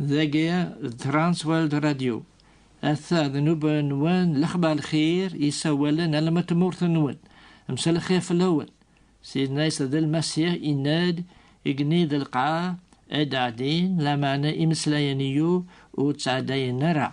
Dagi d Transworld Radio. Atta d nnuba-nwen lexbar lxir yessawalen alma tmurt-nwen. Msal xir fell-awen. Sidna Isa d Lmasiḥ yenna-d igenni d lqaɛ ad ɛeddin lameɛna imeslayen-iyu ur ttɛeddayen ara.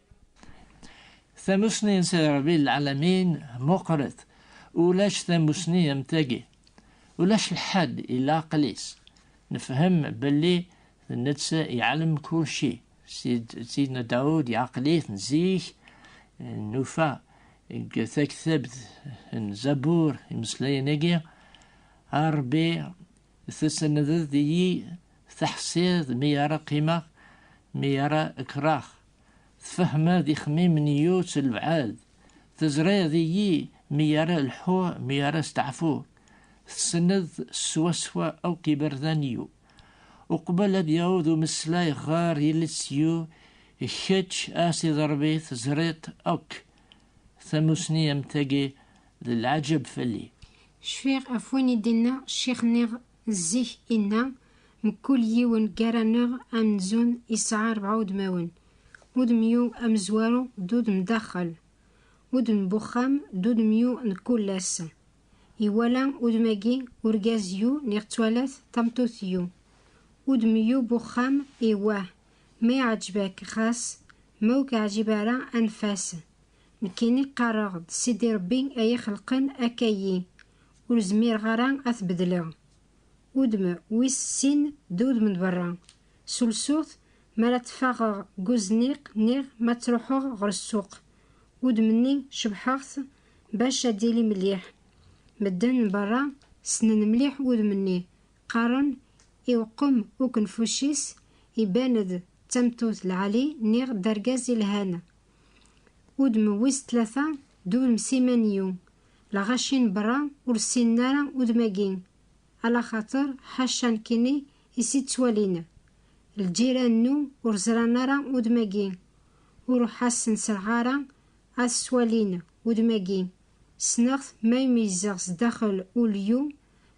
Tamusni n Sidi Ṛebbi lɛalamin meqqret, ulac tamusni am tagi. Ulac lḥedd illa aql-is. Nefhem belli d netta iɛlem kulci. Sidna Dawed iɛqel-it zik, nufa deg taktabt n Zabur imeslayen-agi, A Ṛebbi, tessendeḍ-iyi, teḥṣiḍ mi ara qqimeɣ, mi ara kkreɣ. Tfehmeḍ ixemmimen i yutt lbɛed, teẓriḍ iyi mi ara lḥuɣ mi ara steɛfuɣ, tessneḍ swaswa akk iberdan-iw. Uqbel ad yaweḍ umeslay ɣer yiles-iw, kečč a Sidi Ṛebbi teẓriḍ akk. Tamusni am tagi d lɛaǧeb fell-i. Cfiɣ ɣef win i d-yenna ccix-nniɣ Zik inna, Mkul yiwen gar-aneɣ amenzun yesɛa rebɛa udmawen, udemyu amezwaru d udem daxel, udem n uxxam d udemyu n kullas. Iwala udem-agi urgaz yu neɣ ttwalat tameṭṭut yu. Udemyu n uxxam iwah, ma iɛǧeb-ak xas, ma ur k-iɛǧib ara anef-as. Nekkini qqareɣ-d Sidi Rebbi ay ixelqen akka-yi, Ur zmireɣ ara ad t-bedleɣ. Udem wis sin d udem n berra. S ulsuɣt, mi ara ttfaɣeɣ deg uzniq niɣ ma ttruḥeɣ ɣer ssuq. Udem-nni cebḥeɣ-t bac ad d-yili melliḥ. Medden n berra ssnen mliḥ udem-nni, qqaren i uqqem ukenfuc-is iban-d d tamettut lɛali niɣ d argaz ilhan. Udem wis tlata d udem simaniyu, Lɣaci n berra ur ssinen ara udem-agi, ala xaṭer ḥaca nekkini i s-ittwalin. Lǧiran-nnu ur ẓran ara udem-agi, ur uḥasen-sreɣ ara ad s-walin udem-agi. Ssneɣ-t may meyyzeɣ sdaxel ulyu,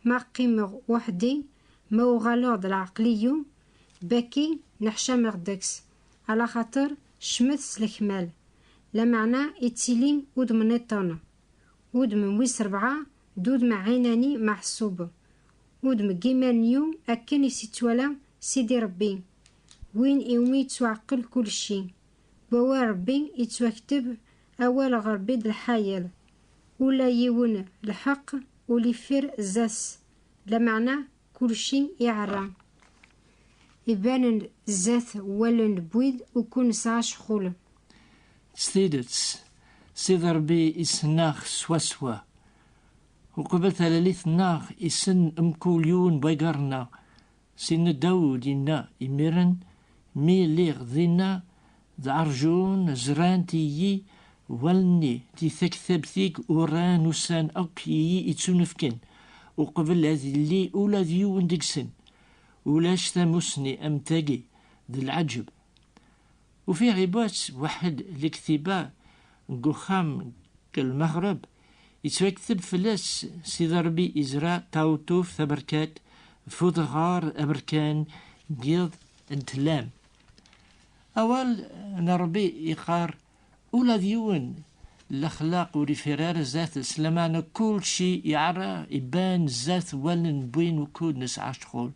ma qqimeɣ weḥdi, ma uɣaleɣ d lɛeqliyu, bakki neḥcameɣ deg-s, ala xaṭer Cmet s lekmal, lameɛna ittili udem niṭṭen. Udem n wis rebɛa d udem ɛinani meɛṣub, udem n yiman n yu akken i s-ittwala Sidi Rebbi, win iwumi yettwaɛqel kulci. Deg wawal Rebbi yettwakteb awal ɣer Rebbi d lḥayel, ula yiwen lḥeqq ur ifir zdat-s, lameɛna Kulci iɛerra. Ibanen zdat wallen n wid ukud nesɛa ccxul. S tidet, Sidi Ṛebbi issen-aɣ swaswa. Uqbel talalit-nneɣ, issen mkul yiwen n waggaṛ-nneɣ. Sidna Dawed yenna, Imiren mi lliɣ dinna, D arjun zrant iyi wallen-i di taktabt ig uran ussan akk iyi ittunefken uqbel ad illi ula d yiwen deg-sen. Ulac tamusni am tagi, d lɛeǧeb. Ufiɣ ibatt waḥed lektiba deg uxxam deg lmeɣreb, ittwakteb fell-as Sidi Rebbi izra taweṭṭuft taberkat f udɣar aberkan n yiḍ n tlam. Awal n Rebbi yeqqar, Ula d yiwen, lexlaq ur ifir ara zdat s lameɛna kulci iɛerra iban zdat wallen n win ukud nesɛa ccɣel.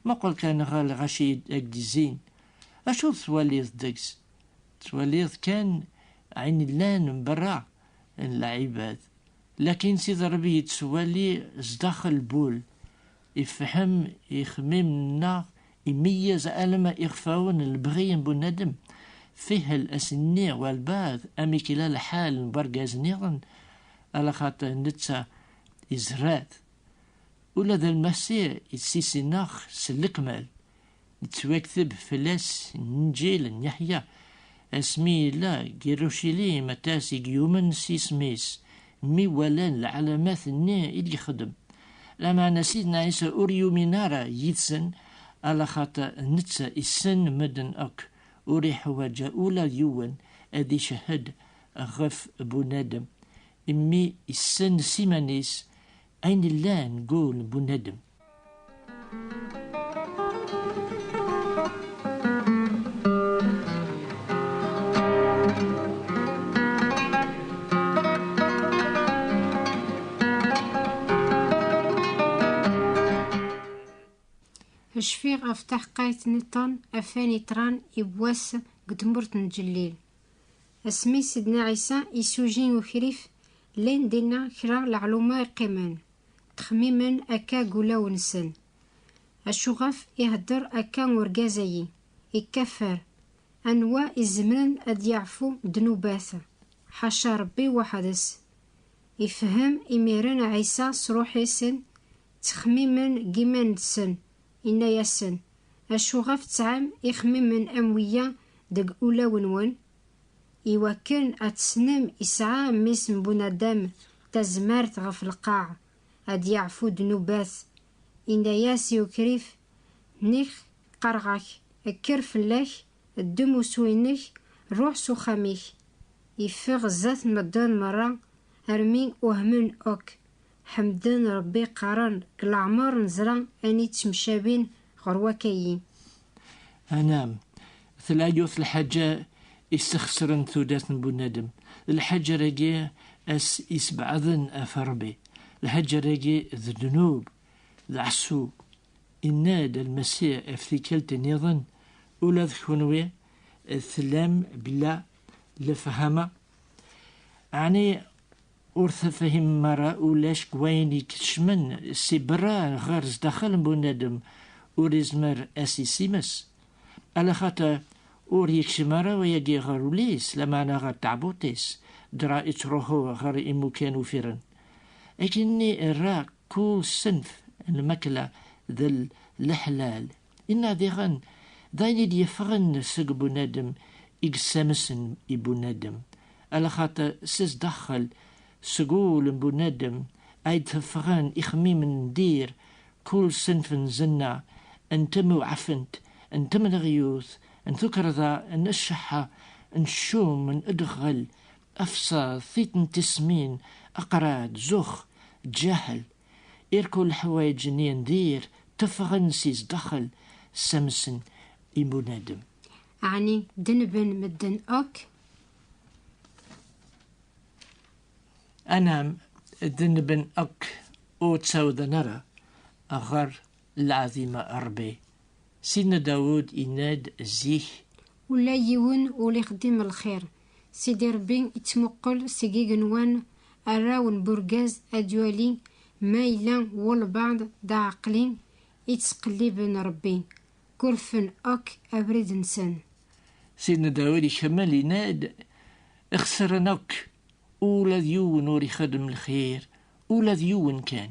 Muqel kan ɣer lɣaci i ak-d-izzin, acu tettwaliḍ deg-s? Tettwaliḍ kan ayen yellan mberra n lɛibad, lakin Sidi Rebbi yettwali zdaxel n wul, Ifehhem ixemmimen-nneɣ, imeyyez alamma ixfawen n lebɣi n bunadem. Fihel ass-nni walbaɛd amek yella lḥal n wergaz-nniḍen, ala xaṭer netta izerra-t. Ula d Lmasiḥ ittissin-aɣ s lekmal. nettwakteb fell-as Inǧil n Yeḥya, asmi yella deg Irucilim aṭas i yumen s yisem-is, mi walan lɛalamat-nni i d-yexdem. Lameɛna Sidna Ɛisa ur yumin ara yid-sen, alaxaṭer netta issen medden akk, ur iḥwaǧ ula d yiwen ad icehhed ɣef bunadem, imi issen s iman-is ayen yellan deg wul n bunadem. Cfiɣ ɣef taḥqayt niṭṭen afan iṭran i wass deg tmurt n Ǧellil. Asmi Sidna Ɛisa isuji ukrif, llan dinna kra leɛluma iqqimen. Ttxemmimen akka deg ulaw-nsen, Acuɣef ihedder akka urgaz-agi? Ikeffer! Anwa izemren ad yaɛfu ddnubat? Ḥaca Ṛebbi weḥd-s! Ifehhem imiren Ɛisa s ṛuḥ-isen ttxemmimen deg yiman-nsen, inna-yasen, Acuɣef tesɛam ixemmimen am wiya deg ulaw-nwen? I wakken ad tesnem, isɛa mmi-s n Bunadem tazmert ɣef lqaɛ, ad d-yeɛfu ddnubat. Inna-yas i ukrif, Nek qqareɣ-ak, kker fell-ak, ddem usu-inek, ruḥ s uxxam-ik. Iffeɣ zdat medden merra, armi uhmen akk, Ḥemden Rebbi qqaren, deg leɛmer nezra ayen yettemcabin ɣer wakk-ayi. Anam, tella yiwet lḥaǧa yessexsren tudert n bunadem, d lḥaǧa-agi as yessebɛaden af Rebbi, lḥaǧa-agi d ddnub, d ɛessu. Yenna-d Lmasiḥ af tikkelt nniḍen, Ula d kunwi tellam bla lefhama? Ɛni Ur tefhimem ara ulac deg wayen ikecmen si berra ɣer zdaxel n bunadem ur izmer as isimes, ala xater ur yekcem ara wayagi ɣer ul-is lameɛna ɣer teɛbuḍt-is dra ittruḥu ɣer imukan uffiren. Akken-nni irra kull senf n lmakla d leḥlal. Inna diɣen, d ayen i d-yeffɣen seg bunadem i yessamsen i bunadem, ala xaṭer s zdaxel, seg wul n bunadem, ay d-teffɣen ixemmimen n dir, kul senf n zenna, n temewɛfent, n temleɣyut, n tukerḍa, n cceḥḥa, n ccum, n ddeɣɣel, afṣaḍ, tiṭ n tismin, aqrad, zux, ǧǧaḥel. Irku leḥwayeǧ-nni n dir teffɣen si zdaxel, ssamsen i bunadem. Ɛni denben medden akk? Anam, denben akk ur ttawḍen ara ɣer Lɛadim a Ṛebbi! Sidna Dawed yenna-d zik. Ula yiwen ur ixeddim lxir, Sidi Ṛebbi ittmuqel seg igenwan, arraw n burgaz ad d-iwali ma yella walebɛeḍ d aɛeqli i ttqelliben Ṛebbi, gurfen akk abrid-nsen. Sidna Dawed ikemmel yenna-d, Ixesren akk, ula d yiwen ur ixeddem lxir, ula d yiwen kan!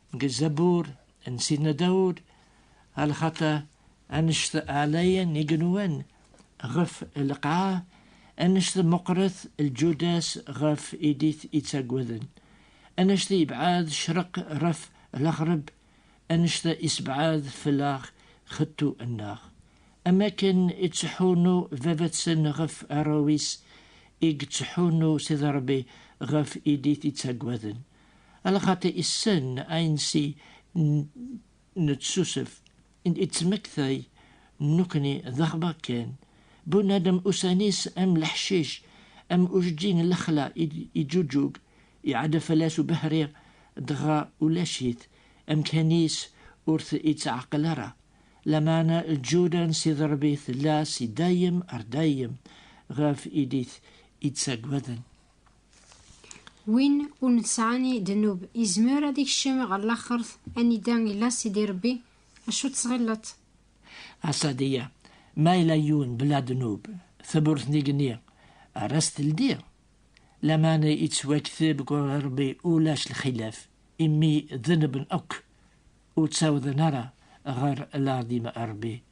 Deg Zabur n Sidna Dawud, a lxaṭer annect ɛlayen igenwan ɣef lqaɛa, annect meqqret lǧuda-s ɣef i d-ittaggaden, annect yebɛed ccreq ɣef lɣerb, annect isebɛed fell-aɣ xettu-nneɣ. Am wakken ittḥunnu baba-tsen ɣef arraw-is, i ittḥunnu Sidi Ṛebbi ɣef i d-ittaggaden. Ala xaṭi issen ansi neţsusef, iţmektay nekni d axbaṛ kan. Bunadem ussan-is am leḥcic, am ujeǧǧig n lexla iǧuǧug, iɛedda fell-as ubehri dɣa ulac-it, amkan-is ur t-iţɛeqqel ara. Lameɛna lǧuda n Sidi Ṛebbi tella si dayem ar dayem ɣef i d-iţaggaden. Win ur nesɛani ddnub izmer ad ikcem ɣer laxert anida illa Sidi Rebbi, acu ttɣilleḍ? Asadiya, Ma yella yiwen bla ddnub, tewwurt n igenni ar as teldi? Laman yettwakteb ɣur Rebbi ulac lxilaf, imi ddnuben akk ur ttawḍen ara ɣer lɛadim n Rebbi.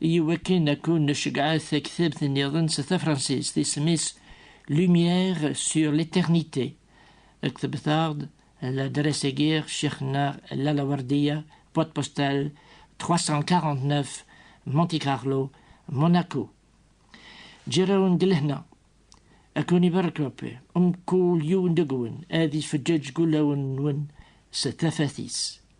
Iwakken ad ken-nceggɛet taktabt nniḍen s tafransist, isem-is Lumière sur l'éternité. Ktbet-aɣ-d ladras-agi a ccix-nneɣ Lalla Werdiya, boîte postale 349, Monte Carlo, Monaco. Ǧǧir-awen deg lehna. A ken-ibarek Rebbi, mkul yiwen deg-wen ad ifeǧǧeǧ deg wulawen-nwen s tafat-is.